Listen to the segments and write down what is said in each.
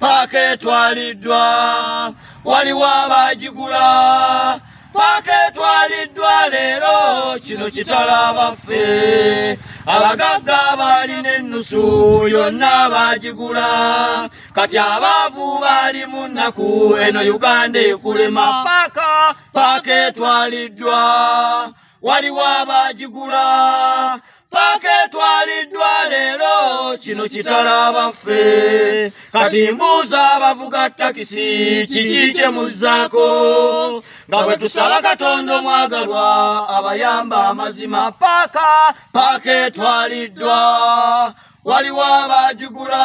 paaka etwaliddwa waliwo abaagigula paaka etwaliddwa leero kino kitala abaffe abagagga baalina ennusu yonna baagigula kati abaavu baali mu nnaku eno uganda ekulema paaka paaka etwaliddwa waliwo abaagigula paaka etwaliddwa leero kino kitala abaffe kati mbuuza abavuga takisi kiki kye muzzaako nga bwe tusaba katonda omwagalwa abayamba amazima paaka paaka etwaliddwa waliwo abagigula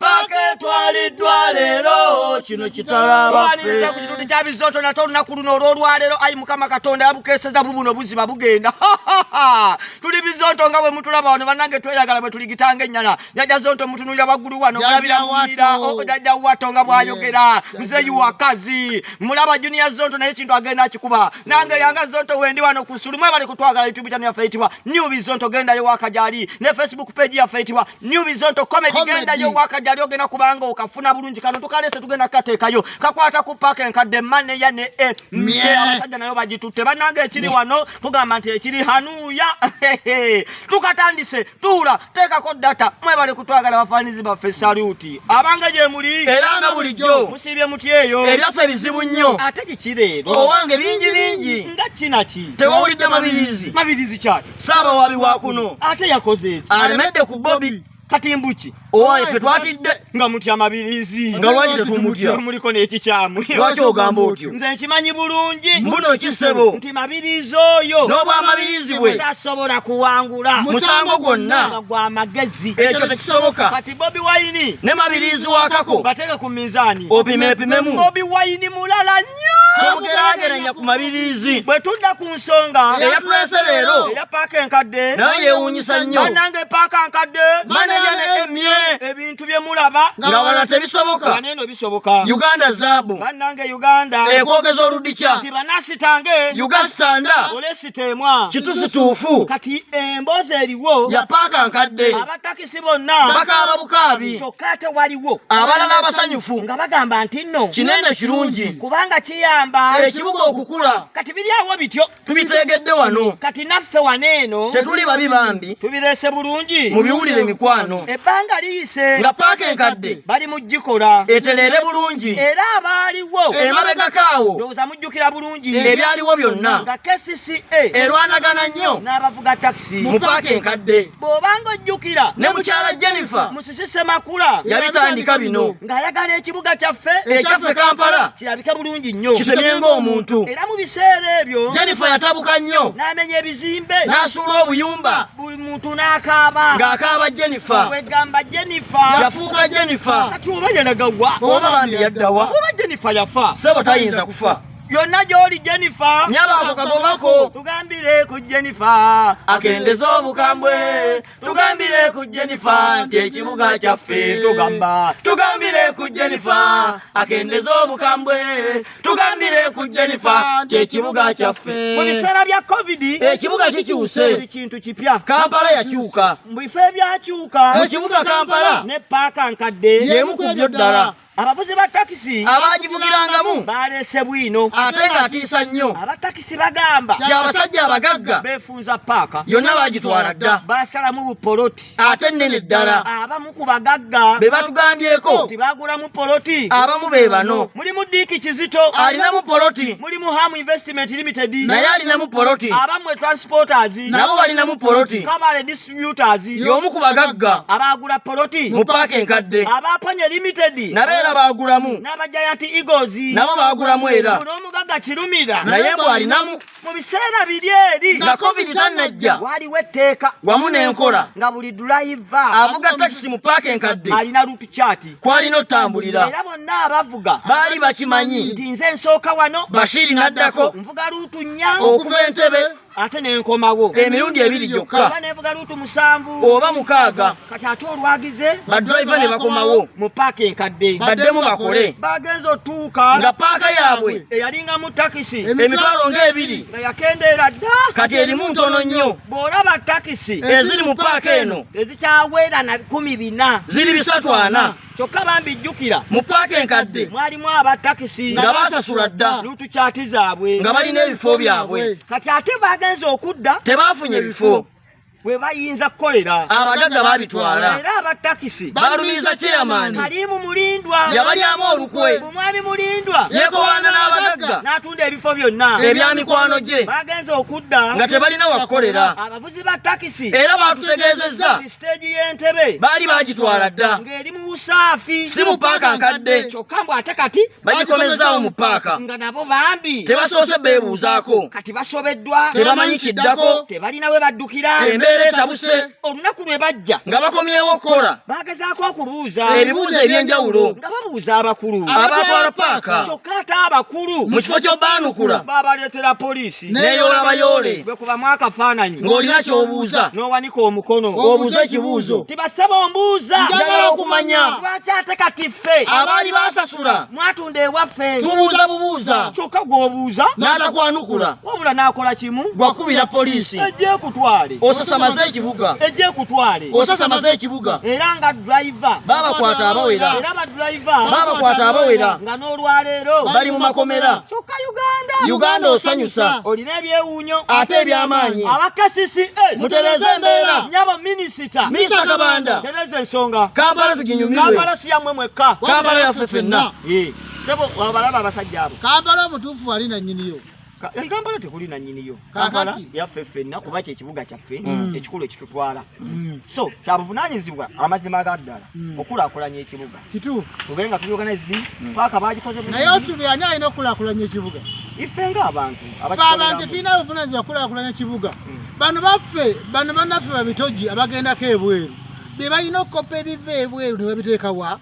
paka etwaliddwa leero kino kitalabaaliriza ku kitundu kya bizooto nate olunaku luno olw'olwaleero ayi mukama katonda yabukeeseza bubuno buziba bugenda tuli bizooto nga bwe mutulaba wano bannange tweyagala bwe tuligitanga ennyana jajja zonto mutunulira waggulu wano mulabira muwulira oh, jajja wato nga bw'ayogera muzeeyi wakazi mulaba juniya zonto naye ekintu agenda akikuba nange yanga zonto wendi wano ku sulumu ebali kutwagala youtube channel yaffe eyitibwa new bizonto gendayo waka gyali ne facebook page yaffe eyitibwa New Bizonto comedy, comedy. genda yo waka jali ogena kubanga okafuna bulungi kano tukalese tugenda kateka yo kakwata ku park en kade mane ya ne e mye abasaja nayo bajitute banange ekiri wano tugamba nti ekiri hanuya tukatandise tula teka ko data mwe bale kutwagala bafanizi ba fe salute abanga je muli era nga buli jo musibye muti eyo ebya fe bizibu nnyo ate kikire owange bingi bingi nga kinaki tewawulidde mabirizi mabirizi kyaki saabawaabi wa kuno ate yakoze alemedde ku bobi kati mbuki owaye fe twatidde nga mutya mabirizi nga lwaki tetumutya muliko n'ekikyamu lwaki ogamba otyo nze nkimanyi bulungi mbuno kisebo nti mabirizi oyo n'obwamabirizi bwe tasobola kuwangula musango gwonna gwa magezi ekyo tekisoboka kati bobi wayini ne mabirizi wakako bateke ku minzaani opime epimemu bobi wayini mulala bwemugeraageranya ku mabiriizi bwe tudda ku nsonga eyatulese leero eya paaka enkadde naye yeewuunyisa nnyo banange paaka nkadde maneja ne emye ebintu bye mulaba nga wala tebisoboka waneeno bisoboka uganda zaabu banange uganda ekwogeza oludikya nti banasitange ugasitanda olesiteemwa kitusituufu kati emboozi eriwo ya paaka nkadde si bonna bakaaba bukaabi kyokka ate waliwo abalala abasanyufu nga bagamba nti nno kinene kirungi kubanga kiyamba ekibuga okukula kati biri awo bityo tubitegedde wano kati naffe wano eno tetuli babi bambi tubireese bulungi mu biwulire emikwano ebbanga liyise nga paaka enkadde bali mu gikola etereere bulungi era abaaliwo emabegako awo ndowooza mujjukira bulungi ebyaliwo byonna nga kcca erwanagana nnyo n'abavuga takisi mu paaka enkadde bw'obanga ojjukira ne mukyala jennifer musisi semakula yabitandika bino ng'ayagala ekibuga kyaffe ekyaffe kampala kirabike bulungi nnyo kitemye ng'omuntu era mu biseera ebyo jennifer yatabuka nnyo n'amenya ebizimbe n'asuula obuyumba buli muntu n'akaaba ng'akaaba jennifer wegamba jennifer yafuuka jennifer kati oba yalagawa oba bambi yaddawa oba jennifer yafa sebo tayinza kufa yonna gy'oli jennifer nyaba ako kagobako tugambire ku jennifer akendeze obukambwe tugambire ku jennifer nti ekibuga kyaffe tugamba tugambire ku jennifer akendeze obukambwe tugambire ku jennifer nti ekibuga kyaffe mu biseera bya covid ekibuga kikyuse buli kintu kipya kampala yakyuka mu bifo ebyakyuka mu kibuga kampala ne paaka nkadde y'emu ku byo ddala abavuzi ba takisi abaagivugirangamu baaleese bwino ate ng'atiisa nnyo abatakisi bagamba nti abasajja abagagga beefunza paaka yonna baagitwala dda baasalamu bupoloti ate nnene ddala abamu ku bagagga be batugambyeko nti baagulamu poloti abamu be bano mulimu diiki kizito alinamu poloti mulimu ham investment limited naye alinamu poloti abamu etransporters nabo balinamu poloti kabale computers y'omu ku bagagga abaagula poloti mu paaka enkadde abaaponye limited nabo era baagulamu n'aba giant eagles nabo baagulamu era n'omugagga kirumira naye mbu alinamu mu biseera biri eri nga covid tannajja waliwo etteeka wamu n'enkola nga buli dulayiva avuga takisi mu paaka enkadde alina lutu kyati kwalina otambulira era bonna abavuga baali bakimanyi nti nze nsooka wano bashiri n'addako nvuga lutu nnya okuva entebe ate nenkomawo emirundi ebiri gyokka oba nevuga luutu musanvu oba mukaaga kati ate olwagize badriva ne bakomawo mu paaka enkadde baddemu bakole bagenza otuuka nga paaka yaabwe eyalinga mu takisi emitwalo ng'ebiri nga yakendeera dda kati erimu ntono nnyo bw'olaba takisi eziri mu paaka eno ezikyaweera na kumi bina ziri bisatu ana kyokka bambi jjukira mu paaka enkadde mwalimu aba takisi nga basasula dda lutukyati zaabwe nga balina ebifo byabwe kati ate baagenze okudda tebaafunye bifo we bayinza kukolera abagagga babitwala era abatakisi balumiriza kyeyamaani kalimu mulindwa yabalyamu olukwe omwami mulindwa yekowaana n'abagagga n'atunda ebifo byonna ebya mikwano gye bagenze okudda nga tebalina wakukolera abavuzi ba takisi era baatutegeezezza siteegi y'entebe baali baagitwala dda ng'eri mu busaafi si mu paaka nkadde kyokka mbu ate kati bagikomezaawo mu paaka nga nabo bambi tebasoose beebuuzaako kati basobeddwa tebamanyi kiddako tebalina we baddukira embeera etabuse olunaku lwe bajja nga bakomyewo okukola baagezaako okubuuza ebibuuzo eby'enjawulo nga babuuza abakulu abatwala paaka kyokka ate abakulu mu kifo ky'obaanukula baabaleetera poliisi neeyoola bayoole bwe kubamu akafaananyi ng'olina ky'obuuza n'owanika omukono obuuza ekibuuzo tibassaba ombuuza njagala okumanya lwaki ate kati ffe abaali baasasula mwatunda ewaffe tubuuza bubuuza kyokka gw'obuuza n'atakwanukula wabula n'akola kimu gwakubira poliisi ejja ekutwale osasamaze ekibuga ejja ekutwale osasamaze ekibuga era nga driva babakwata abawera era badriva babakwata abawera nga n'olwaleero bali mu makomera kyokka uganda uganda osanyusa olina ebyewuunyo ate ebyamaanyi abakasisi eh, mutereze embeera nyabo minisita minisa kabanda tereza ensonga kampala tuginyumirwe kampala si yammwe mwekka kampala yaffe fenna eh, sebo abalaba abasajja abo kampala omutuufu wali nanyiniyo eh, kampala tekuli nanyiniyo kampala yaffe ffenna kuba kyekibuga kyaffe mm. ekikulu ekitutwala mm. so kyabuvunanyizibwa amazima ga ddala mm. okulakulanya ekibuga tube nga tuorganize paaka bagikozenaye osubi ani alina okulakulanya ekibuga ife nga abantu abantu tulina buvunanyizibwa kulakulanya ekibuga bano baffe bano banaffe babitoji abagendako ebweru bebalina okukoppa ebiva ebweru nebabiteekawa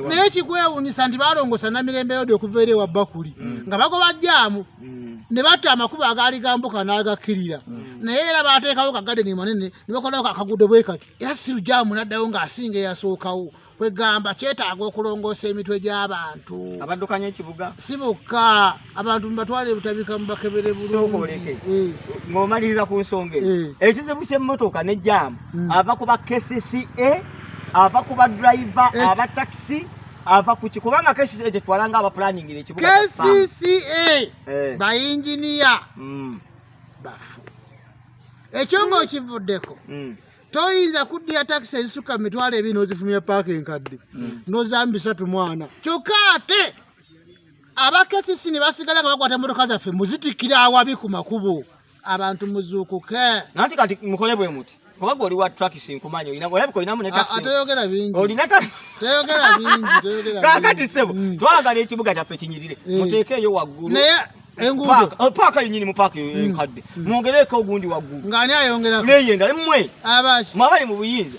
naye ekikwewunyisa nti balongosa namirembe yode okuva eri ewa bakuli mm. nga bagoba jaamu mm. ne batta amakubo agaali gambuka n'agakkirira mm. naye era baateekawo kagadeni manene ne bakolawo kakagudo bwe kati era siru jaamu n'addayo ng'asinga eyasookawo kwegamba kyetaaga okulongoosa emitwe gy'abantu abaddukanya ekibuga si bokka abantu mubatwale ebutabika mubakebere bulungi eh. ng'omaliriza ku nsonga eyo eh. ekizibu ky'emmotoka ne jaamu hmm. ava ku ba kcca ava ku badriva eh. aba takisi ava kuki kubanga kesi ekyo twalanga aba planning ne kibuga KCCA eh. ba engineer mm. bafu ekyo ngo mm. kivuddeko mm. toyinza kuddiya taxi ezisuka mitwalo ebiri n'ozifumya paaka enkadde mm. n'ozambisatu mwana kyokka ate abakesisi ne basigala nga bakwata emmotoka zaffe muzitikkira awabi ku makubo abantu muzuukuke nanti kati mukole bwe muti kubanga oli wa trakisi nkumanyi olina olabika olinamu ne ah, ah, toyogera bingi olina toyogera bingi toyogera kakati sebo mm. twagala ekibuga kyaffe kinyirire eh. muteekeeyo waggulu naye enguudo oh, paaka yenyini mu paaka mm. enkadde mm. mwongereeko ogundi waggulu ng'ani ayongeraku naye endala mmwe abaki mwabali mu buyinza